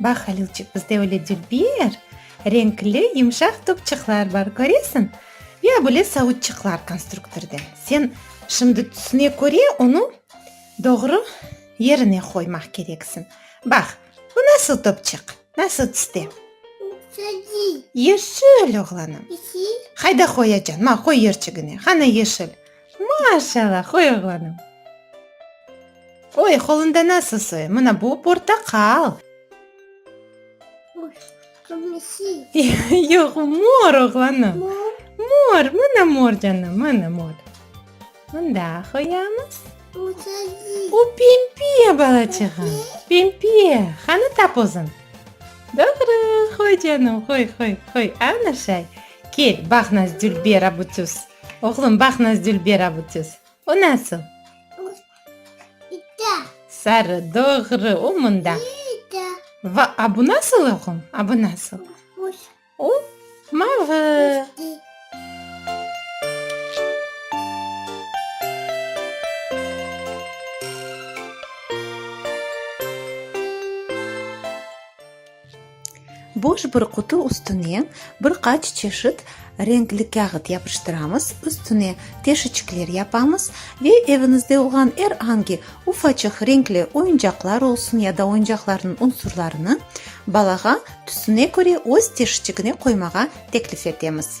Bax, Halilçik, bizde öyle dilber, renkli, yumşaq topçıqlar bar, köresiñ? Ya böyle savutçıqlar konstruktorda. Sen şimdi tüsüne köre onı doğru yerine qoymaq kereksiñ. Bax, bu nasıl topçıq, nasıl tüste? Yeşil, oğlanım. Hayda qoyacan, ma, qoy yerçigine. Qana yeşil. Maşallah, qoy oğlanım. Oy, qolunda nasıl soy? Mına bu portaqal. Yoq, mor, oğlanım. Mor, mına mor, canım, mına mor. Mında qoyamız. O pembe balaçığım, pembe. Qanı tap özün. Doğru, qoy, canım, qoy, qoy, qoy. Ana şay. Kel, baq, nasıl dülber, abutüs. Oğlum, baq, Nazdülber avutiz. O nasıl? Sarı, doğru, o mında. Va, a bu nasıl, oğlum? A bu nasıl? O mavı. Boş bir qutu üstüne bir qaç çeşit renkli kâğıt yapıştıramız, üstüne teşiçikler yapamız ve eviñizde olğan er angi ufaçıq renkli oyuncaqlar olsun ya da oyuncaqlarnıñ unsurlarını balağa tüsüne köre öz teşiçigine qoymağa teklif etemiz.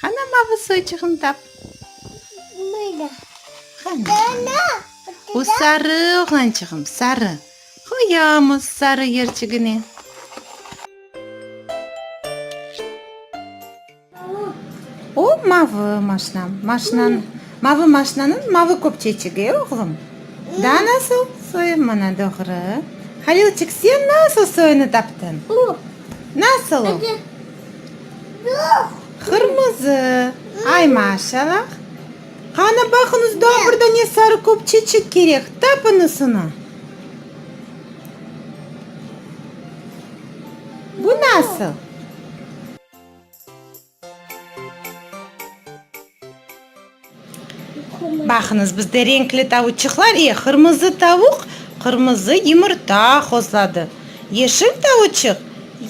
Qana mavı soyçığını tap. Böyle. Qana. Bu sarı, oğlançığım, sarı. Qoyamız sarı yerçigine. O mavı maşnam. Maşnanı, mavı maşnanıñ mavı köpçeciği, oğlum. Daa nasıl soyuv? Mına doğru. Halilçik, sen nasıl soyunı taptıñ? Nasıl o? Qırmızı. Ay, maşallah! Qanı baqıñız, daa bir dane sarı köpçecik kerek, tapıñız onı. Bu nasıl? Baqıñız, bizde renkli tavuçıqlar, e, qırmızı tavuq, qırmızı yımırta hozladı, yeşil tavuçıq,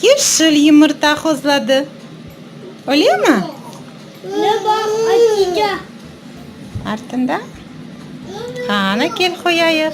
yeşil yımırta hozladı. Ölemi? Artında? Qana, kel qoyayıq.